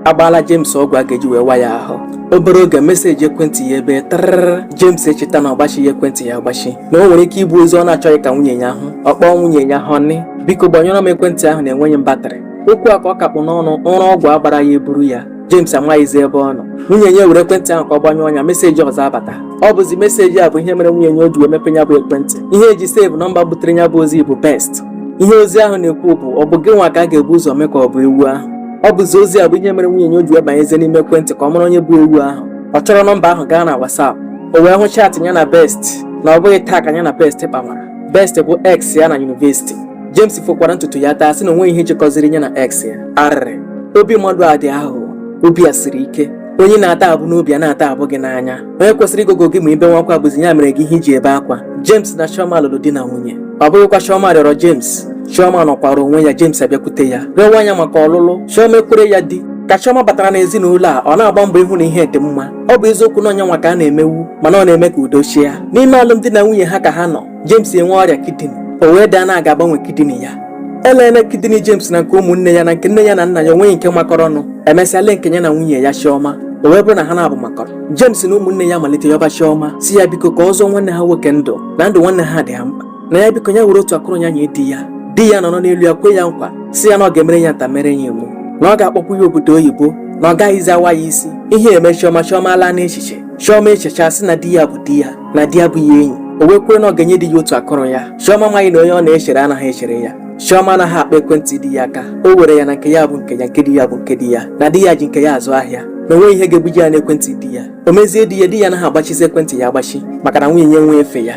agbaala James ọgwụ a ga-eji wee wa ya ahụ obere oge meseji ekwentị ya ebe trịrị James echeta na ọ gbachighị ekwentị ya agbachi na o nwere ike ịbụ ozi ọ na-achọghị ka nwunye ya hụ ọ kpọọ nwunye ya honey biko gbanyụrụ m ekwentị ahụ na enweghị m batrị okwu a ka ọ ka kpụ n'ọnụ ụra ọgwụ a gbara ya eburu ya James amaghịzi ebe ọ nọ nwunye ya were ekwentị ahụ ka ọ gbanyụọ ya meseji ọzọ abata ọ bụzi meseji a bụ ihe mere nwunye ya o ji wee mepe ya bụ ekwentị ihe e ji sevu nọmba butere ya bụ ozi bụ Best ihe ozi ahụ na-ekwu bụ ọ bụ gị nwa ka a ga-ebu ụzọ mee ka ọ bụ ewu ahụ ọ bụzi ozi a bụ ihe mere nwunye ya o ji wee banyezie n'ime ekwentị ka ọ mara onye bụ ewu ahụ ọ chọrọ nọmba ahụ gaa na WhatsApp o wee hụ chaatị ya na Best na ọ bụghị taa ka ya na Best kpamara Best bụ ex ya na yunivesiti James fokwara ntutu ya taa sị na onweghị ihe jikọziri ya na ex ya arịrị obi mmadụ a dị aghụghọ obi a siri ike onye na-ata abụ n'obi a na-ata abụ gị n'anya onye kwesịrị ịgụgụ gị ma i bewa akwa bụzi ya mere gị ihe i ji ebe akwa James na Chioma lụrụ di na nwunye ọ bụghịkwa Chioma rịọrọ James Chioma nọkwara onwe ya James abịakwute ya rịọwa ya maka ọlụlụ Chioma ekwere ya di ka Chioma batara n'ezinụlọ a ọ na-agba mbọ ịhụ na ihe dị mma ọ bụ eziokwu na ọ ya nwa ka a na-emewu mana ọ na-eme ka udo chịa n'ime alụmdi na nwunye ha ka ha nọ James enwe ọrịa kidini o wee daa na a ga-agbanwe kidini ya elele kidini James na nke ụmụnne ya na nke nne ya na nna ya onweghị nke makọrọ ọnụ emesịa lee nke ya na nwunye ya Chioma o wee bụrụ na ha naabọ makọrọ James na ụmụnne ya malite yọba Chioma sị ya biko ka ọ zọọ nwanne ha nwoke ndụ na ndụ nwanne ha dị ha mkpa na ya biko ya were otu akụrụ ya nye di ya di ya nọrọ n'elu ya kwe ya nkwa sị ya na ọ ga-emere ya nta mere ya imo na ọ ga-akpọkwu ya obodo oyibo na ọ gaghịzi awa ya isi ihe eme Chioma Chioma laa n'echiche Chioma echechaa sị na di ya bụ di ya na di ya bụ ya enyi o wee kwere na ọ ga-enye di ya otu akụrụ ya Chioma amaghị na onye ọ na-echere anaghị echere ya Chioma anaghị akpa ekwentị di ya aka o were ya na nke ya bụ nke ya nke di ya bụ nke di ya na di ya ji nke ya azụ ahịa na onweghị ihe ga-ebuje ya n'ekwentị di ya o mezie di ya di ya anaghị agbachizi ekwentị ya agbachi maka na nwunye ya enweghị efe ya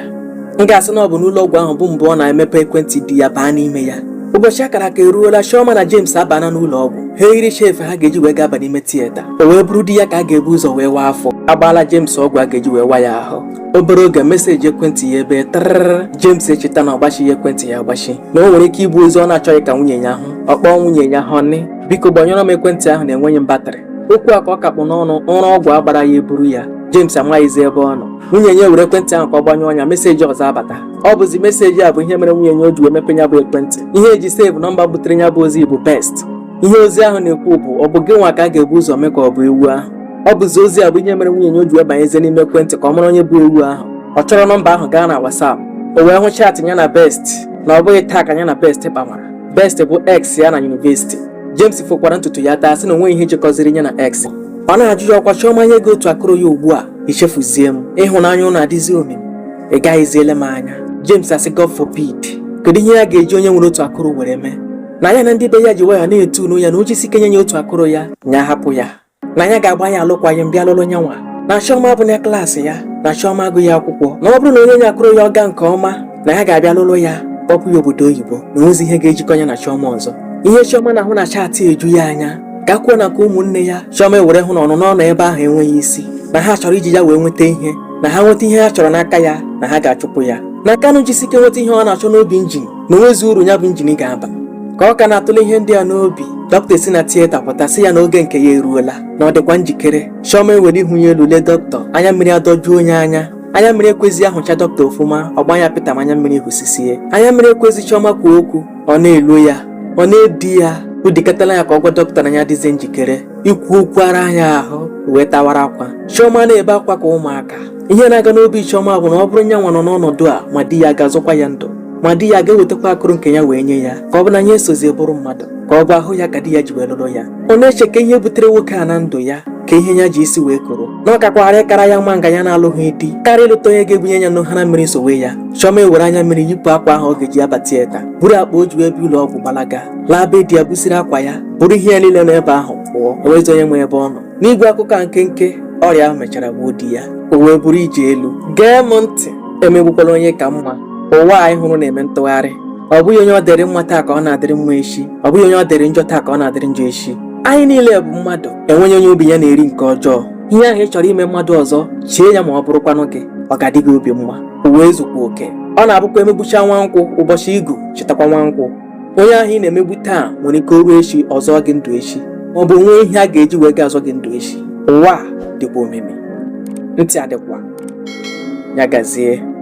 m ga-asị na ọ bụ n'ụlọ ọgwụ ahụ bụ mbụ ọ na-emepe ekwentị di ya baa n'ime ya ụbọchị a kara aka eruola Chioma na James abana n'ụlọ ọgwụ ha eyiricha efe ha ga-eji wee gaba n'ime tiyeta o wee bụrụ di ya ka a ga-ebu ụzọ wee waa afọ agbaala James ọgwụ a ga-eji wee wa ya ahụ obere oge meseji ekwentị ya ebe trịrị James echeta na ọ gbachighị ekwentị ya agbachi na o nwere ike ịbụ ozi ọ na-achọghị ka nwunye ya hụ ọ kpọọ nwunye ya honey biko gbanyụrụ m ekwentị ahụ na enweghị m batrị okwu a ka ọ ka kpụ n'ọnụ ụra ọgwụ a gbara ya eburu ya James amaghịzi ebe ọ nọ nwunye ya were ekwentị ahụ ka ọ gbanyụọ ya meseji ọzọ abata ọ bụzi meseji a bụ ihe mere nwunye ya o ji wee mepe ya bụ ekwentị ihe e ji sevu nọmba butere ya bụ ozi bụ Best ihe ozi ahụ na-ekwu bụ ọ bụ gị nwa ka a ga-ebu ụzọ mee ka ọ bụ ewu ahụ ọ bụzi ozi a bụ ihe mere nwunye ya o ji wee banyezie n'ime ekwentị ka ọ mara onye bụ ewu ahụ ọ chọrọ nọmba ahụ gaa na WhatsApp o wee hụ chaatị ya na Best na ọ bụghị taa ka ya na Best kpamara Best bụ ex ya na yunivesiti James fokwara ntutu ya taa sị na onweghị ihe jikọziri ya na ex ọ na-ajụ ya ọ kwa Chioma nye gị otu akụrụ ya ugbu a i chefuzie m ịhụnanya ụnụ adịzi omimi ị gaghịziele m anya James asị God forbid kedu ihe ya ga-eji onye nwere otu akụrụ were mee na ya na ndị be ya ji waya na-eto ya na o jisike nye ya otu akụrụ ya nya hapụ ya na ya ga-agba ya alụkwaghịm bịa lụrụ nyanwa na chiọma abụghị klaasị ya na chiọma agụghị akwụkwọ na ọ bụrụ na o nye ya akụrụ ya ọ gaa nke ọma na ya ga-abịa lụrụ ya kpọpụ ya obodo oyibo na o nwezi ihe ga-ejikọ ya na chiọma ọzọ ihe chiọma na-ahụ na chaatị eju ya anya gakwuo na nke ụmụnne ya chiọma ewere hụ na ọnụnọ ọ nọ ebe ahụ enweghị isi na ha chọrọ iji ya wee nweta ihe na ha nweta ihe ha chọrọ n'aka ya na ha ga-achụpụ ya na ka nya jisike nweta ihe ọ na-achọ n'obi njin na o nwezi uru ya bụ injin ga-aba ka ọ ka na-atụle ihe ndị a n'obi dọkịta si na tieta pụta sị ya na oge nke ya eruola na ọ dịkwa njikere chioma ewere ihu ya elu lee dọkịta anya mmiri adọjuo ya anya anya mmiri ekwezi ya hụcha dọkịta ọfụma ọ gbaa anya pịtam anya mmiri hụsisie anya mmiri ekwezi chioma kwuo okwu ọ na-elo ya ọ na-edi ya o dikatala ya ka ọ gwa dọkịta na ya adịzi njikere ikwu okwu ara ya ahụ o wee tawara akwa chioma na-ebe akwa ka ụmụaka ihe na-aga n'obi chioma bụ na ọ bụrụ nyanwa nọ n'ọnọdụ a ma di ya ga-azọkwa ya ndụ ma di ya ga-ewetakwa akụrụ nke ya wee nye ya ka ọ bụ na ya esozie bụrụ mmadụ ka ọ bụ ahụ ya ka di ya ji wee lụrụ ya ọ na-eche ka ihe butere nwoke a na ndụ ya ka ihe ya ji isi wee koro na ọ kakwara ịkara ya mma nga ya na-alụghị di karịa ịlụta onye ga-ebunye ya nnu hara mmiri sowe ya chiọma ewere anya mmiri yipụ akwa ahụ ọ ga-eji aba tieta buru akpa o ji wee bịa ụlọ ọgwụ gbalaga laa be di ya busiri akwa ya buru ihe ya niile n'ebe ahụ pụọ o nwezi onye ma ebe ọ nọ n'igbu akụkọ a nkenke ọrịa ahụ mechara gbuo di ya o wee bụrụ ije elu gee m ntị emegbukwala onye ị ka mma ụwa anyị hụrụ na-eme ntụgharị ọ bụghị onye ọ dịrị mma taa ka ọ na-adịrị mma echi ọ bụghị onye ọ dịrị njọ taa ka ọ na-adịrị njọ echi anyị niile bụ mmadụ enweghị onye obi ya na-eri nke ọjọọ ihe ahụ ị chọrọ ime mmadụ ọzọ chee ya ma ọ bụrụkwanụ gị ọ ga-adị gị obi mma ụwa ezukwa oke ọ na-abụkwa e megbucha nwa nkwụ ụbọchị igu e chetakwa nwa nkwụ onye ahụ ị na-emegbu taa nwere ike o ruo echi ọ zọọ gị ndụ echi ma ọ bụ nwee ihe a ga-eji wee ga-azọ gị ndụ echi ụwa dịkwa omimi ntị adịkwa ya gazie